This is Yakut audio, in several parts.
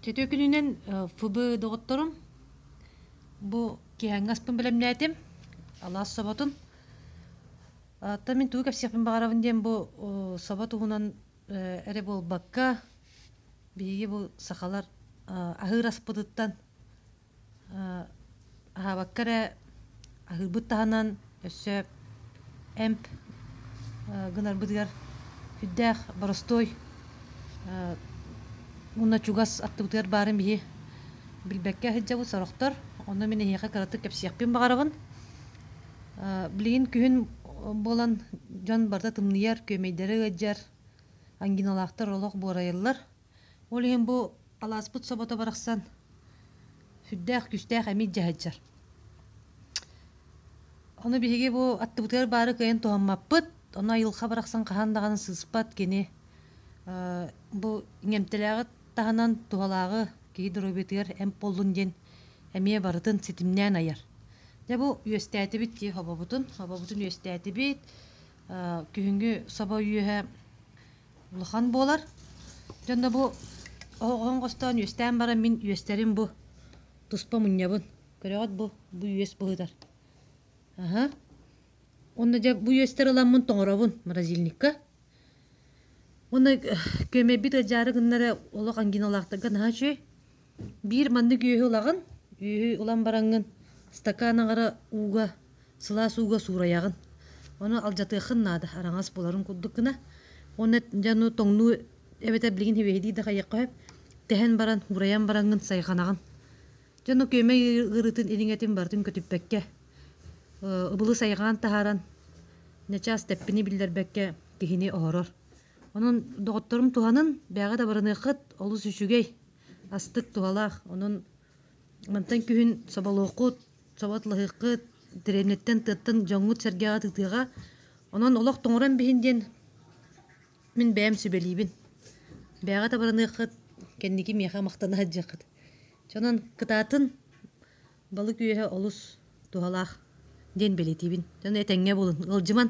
Чөтүөкүнүнэн ФБ доҕотторум, бу киэһэҥҥи аспын бэлэмнээтим, алаас соботун. Оттон мин тугу кэпсиэхпин баҕарабын диэн бу собо туһунан эрэ буолбакка, биһиги бу сахалар аһыыр аспытыттан аһаабакка эрэ аһыырбыт таһынан өссө эмп гынарбытыгар сүрдээх боростуой уонна чугас аттыбытыгар баарын биһи билбэккэ сылдьабыт сорохтор онно мин эһиэхэ кыратык кэпсиэхпин баҕарабын билигин күһүн буолан дьон барыта тымныйар күөмэйдэрэ ыалдьар ангиналаахтар олох буорайыллар Ол иһин бу алааспыт собото барахсан сүрдээх күүстээх эмит дьаһайдьар. Ону биһиги бу аттыбытыгар баары кыайан туһаммаппыт. Ону айылҕа барахсан хаһан даҕаны сыыспат кини бу иҥэмтэлээҕи таһынан туһалааҕы киһи доруобуйатыгар эмп буоллун диэн эмиэ барытын ситимнээн айар. Дьэ бу үөстээтибит дии хобобутун. Хобобутун үөстээтибит. Күһүҥҥү собо үөһэ улахан буолар дьонно бу оһоҕун хостоон үөстээн баран мин үөстэрим бу туспа мунньабын көрөҕүт бу бу үөс быһытар аһа уонна дьэ бу үөстэр ыламмын тоҥоробун морозильникка уонна күөмэйбит ыдьаары гыннара олох ангиналаахтарга наһаа үчүгэй Биир маннык үөһү ылаҕын, үөһү ылан бараҥҥын стакан аҥара ууга, сылаас ууга суурайаҕын. Ону алдьатыаххын наада, араҥас буоларын курдук гына. Уонна дьэ ону тоҥнуу эбэтэр билигин һивиэһитии да хайыахха сөп. Тэһэн баран, уурайан бараҥҥын сайҕанаҕын. Дьэ ону күөмэй ыарыытын илиҥэтин барытын көтүппэккэ, ыбылы сайҕаан таһааран, начаас тэппини биллэрбэккэ киһини оһорор. Онон доҕотторум туһанан, бээҕи да барыныаххыт, олус үчүгэй. астык туһалаах. Онон мантан күһүн соболуоххут, соботлоһуоххут, дэриэбинэттэн, тыаттан дьоҥҥут сэргэҕит ытыаҕа. Онон олох тоҥорон биһин диэн мин бэйэм сүбэлиибин. Бэйэҕит абыраныаххыт, кэнники миэхэ махтана сылдьыаххыт. Дьонон кытаатын балык үөһэ олус туһалаах диэн бэлиэтиибин. Дьон этэҥҥэ буолун, ыалдьыман.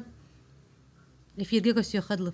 Эфиргэ көрсүөххэ дылы.